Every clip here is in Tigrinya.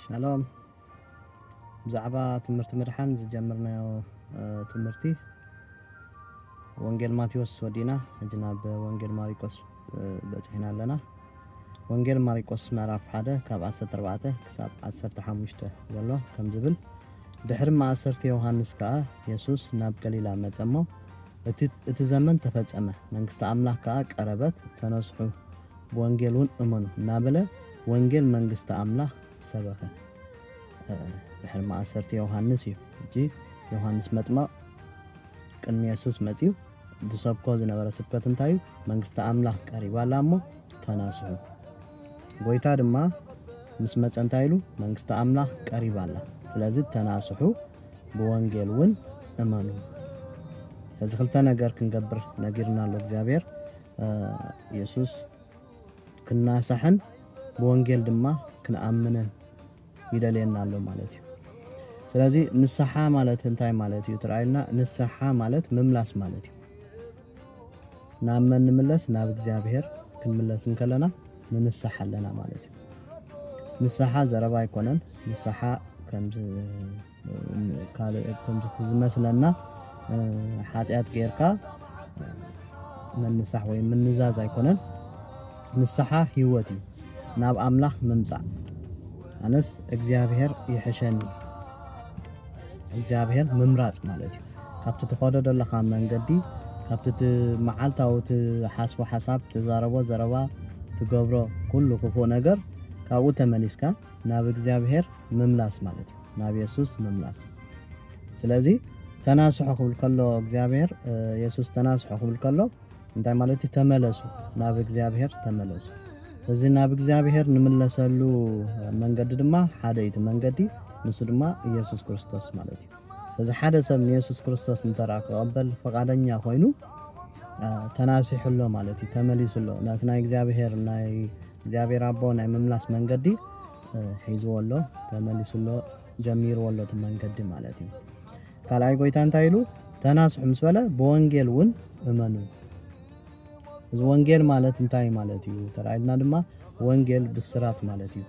ሻሎም ብዛዕባ ትምህርቲ ምድሓን ዝጀመርናዮ ትምህርቲ ወንጌል ማቴዎስ ወዲና ሕጂ ናብ ወንጌል ማሪቆስ በፂሕና ኣለና ወንጌል ማሪቆስ ምዕራፍ 1 ካብ 14 ክሳብ 15 ዘሎ ከም ዝብል ድሕሪ ማእሰርቲ ዮሃንስ ከዓ የሱስ ናብ ገሊላ መፀ እሞ እቲ ዘመን ተፈጸመ መንግስቲ ኣምላኽ ከዓ ቀረበት ተነስሑ ብወንጌል እውን እመኑ እናበለ ወንጌል መንግስቲ ኣምላኽ ሰበኸ። ድሕሪ ማእሰርቲ ዮሃንስ እዩ ሕጂ ዮሃንስ መጥመቕ ቅድሚ የሱስ መጺኡ ዝሰብኮ ዝነበረ ስብከት እንታይ እዩ? መንግስቲ ኣምላኽ ቀሪባ ኣላ እሞ ተናስሑ። ጎይታ ድማ ምስ መጸ እንታይ ኢሉ? መንግስቲ ኣምላኽ ቀሪባ ኣላ፣ ስለዚ ተናስሑ፣ ብወንጌል እውን እመኑ። እዚ ክልተ ነገር ክንገብር ነጊርና ኣሎ እግዚኣብሔር። የሱስ ክናሳሕን ብወንጌል ድማ ክንኣምንን ይደልየና ኣሎ ማለት እዩ ስለዚ ንስሓ ማለት እንታይ ማለት እዩ ትረኣዩና ንስሓ ማለት ምምላስ ማለት እዩ ናብ መን ንምለስ ናብ እግዚኣብሄር ክንምለስ እንከለና ንንስሓ ኣለና ማለት እዩ ንስሓ ዘረባ ኣይኮነን ንስሓ ከምዚ ካልእ ከምዚ ዝመስለና ሓጢኣት ጌርካ ምንሳሕ ወይ ምንዛዝ ኣይኮነን ንስሓ ህይወት እዩ ናብ ኣምላኽ ምምጻእ ኣነስ እግዚኣብሔር ይሕሸኒ እግዚኣብሔር ምምራጽ ማለት እዩ ካብቲ ትኸዶ ዘለኻ መንገዲ ካብቲ እቲ መዓልታዊ ትሓስቦ ሓሳብ ትዛረቦ ዘረባ ትገብሮ ኩሉ ክፉእ ነገር ካብኡ ተመሊስካ ናብ እግዚኣብሔር ምምላስ ማለት እዩ ናብ የሱስ ምምላስ ስለዚ ተናስሑ ክብል ከሎ እግዚኣብሔር የሱስ ተናስሑ ክብል ከሎ እንታይ ማለት እዩ ተመለሱ ናብ እግዚኣብሔር ተመለሱ እዚ ናብ እግዚኣብሔር ንምለሰሉ መንገዲ ድማ ሓደ እቲ መንገዲ ንሱ ድማ ኢየሱስ ክርስቶስ ማለት እዩ እዚ ሓደ ሰብ ንየሱስ ክርስቶስ እንተረኣ ክቐበል ፈቓደኛ ኮይኑ ተናሲሑ ኣሎ ማለት እዩ ተመሊሱ ኣሎ ናቲ ናይ እግዚኣብሔር ናይ እግዚኣብሔር ኣቦ ናይ ምምላስ መንገዲ ሒዝዎ ኣሎ ተመሊሱ ኣሎ ጀሚርዎ ኣሎ እቲ መንገዲ ማለት እዩ ካልኣይ ጎይታ እንታይ ኢሉ ተናስሑ ምስ በለ ብወንጌል እውን እመኑ እዚ ወንጌል ማለት እንታይ ማለት እዩ ተራኢልና ድማ ወንጌል ብስራት ማለት እዩ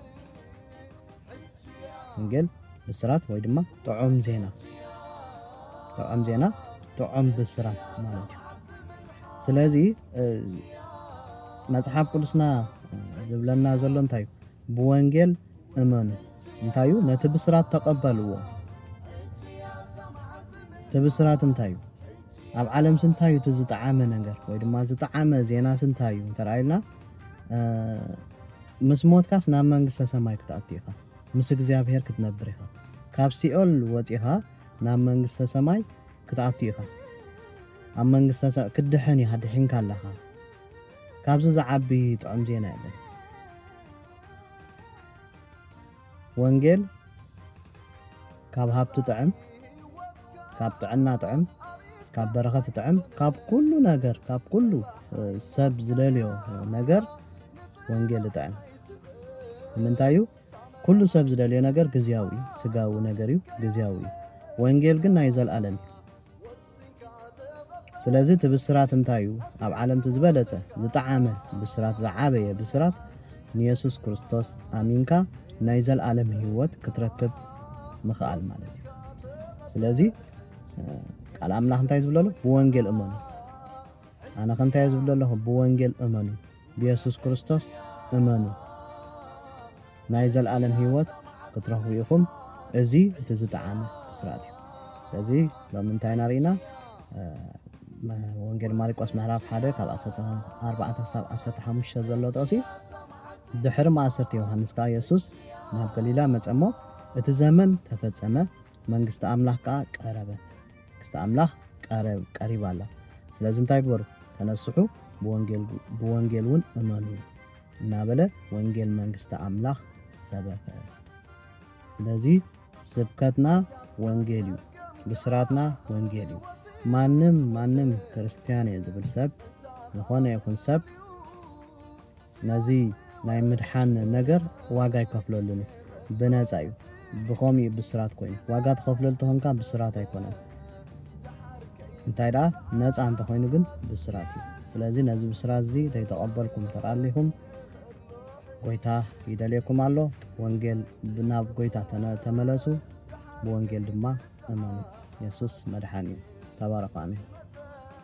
ወንጌል ብስራት ወይ ድማ ጥዑም ዜና ጥዑም ዜና ጥዑም ብስራት ማለት እዩ ስለዚ መፅሓፍ ቅዱስና ዝብለና ዘሎ እንታይ እዩ ብወንጌል እመኑ እንታይ እዩ ነቲ ብስራት ተቐበልዎ እቲ ብስራት እንታይ እዩ ኣብ ዓለም ስንታይ እዩ እቲ ዝጠዓመ ነገር ወይ ድማ ዝጠዓመ ዜና ስንታይ እዩ እንተረኣዩና ምስ ሞትካስ ናብ መንግስተ ሰማይ ክትኣቱ ኢኻ፣ ምስ እግዚኣብሄር ክትነብር ኢኻ፣ ካብ ሲኦል ወጺኻ ናብ መንግስተ ሰማይ ክትኣቱ ኢኻ፣ ኣብ መንግስተ ሰማይ ክትድሕን ኢኻ፣ ድሒንካ ኣለኻ፣ ካብዚ ዝዓቢ ጥዑም ዜና የለን። ወንጌል ካብ ሃብቲ ጥዕም ካብ ጥዕና ጥዕም ካብ በረኸት ጥዕም ካብ ኩሉ ነገር ካብ ኩሉ ሰብ ዝደልዮ ነገር ወንጌል ጥዕም ንምንታይ እዩ ኩሉ ሰብ ዝደልዮ ነገር ግዝያዊ እዩ ስጋዊ ነገር እዩ ግዝያዊ እዩ ወንጌል ግን ናይ ዘለኣለም እዩ ስለዚ እቲ ብስራት እንታይ እዩ? ኣብ ዓለም እቲ ዝበለጸ፣ ዝጠዓመ ብስራት፣ ዝዓበየ ብስራት፣ ንየሱስ ክርስቶስ ኣሚንካ ናይ ዘልኣለም ህይወት ክትረክብ ምኽኣል ማለት እዩ። ስለዚ ቃል ኣምላኽ እንታይ ዝብለሉ? ብወንጌል እመኑ። ኣነ ከ እንታይ ዝብለለኹ? ብወንጌል እመኑ። ብየሱስ ክርስቶስ እመኑ ናይ ዘልኣለም ሂወት ክትረኽቡ ኢኹም እዚ እቲ ዝጠዓመ ብስራት እዩ ስለዚ ሎሚ እንታይ ኢና ርኢና ወንጌል ማርቆስ ምዕራፍ ሓደ ካብ 14 ክሳብ 15 ዘሎ ጥቕሲ ድሕሪ ማእሰርቲ ዮሃንስ ከዓ የሱስ ናብ ገሊላ መጸ እሞ እቲ ዘመን ተፈጸመ መንግስቲ ኣምላኽ ከዓ ቀረበት ክስተ ኣምላኽ ቀሪባ ኣላ። ስለዚ እንታይ ግበሩ? ተነስሑ፣ ብወንጌል እውን እመኑ እናበለ ወንጌል መንግስቲ ኣምላኽ ሰበከ። ስለዚ ስብከትና ወንጌል እዩ፣ ብስራትና ወንጌል እዩ። ማንም ማንም ክርስትያን እየ ዝብል ሰብ ዝኾነ ይኹን ሰብ ነዚ ናይ ምድሓን ነገር ዋጋ ኣይከፍለሉን እዩ ብነጻ እዩ ብኸምኡ እዩ ብስራት ኮይኑ ዋጋ ትኸፍለሉ ተኾንካ ብስራት ኣይኮነን እንታይ ደኣ ነጻ እንተኾይኑ ግን ብስራት እዩ ስለዚ ነዚ ብስራት እዚ ዘይተቐበልኩም ተራሊኹም ጎይታ ይደልየኩም ኣሎ ወንጌል ብናብ ጎይታ ተመለሱ ብወንጌል ድማ እመኑ የሱስ መድሓኒ እዩ ተባረኹ ኣሜን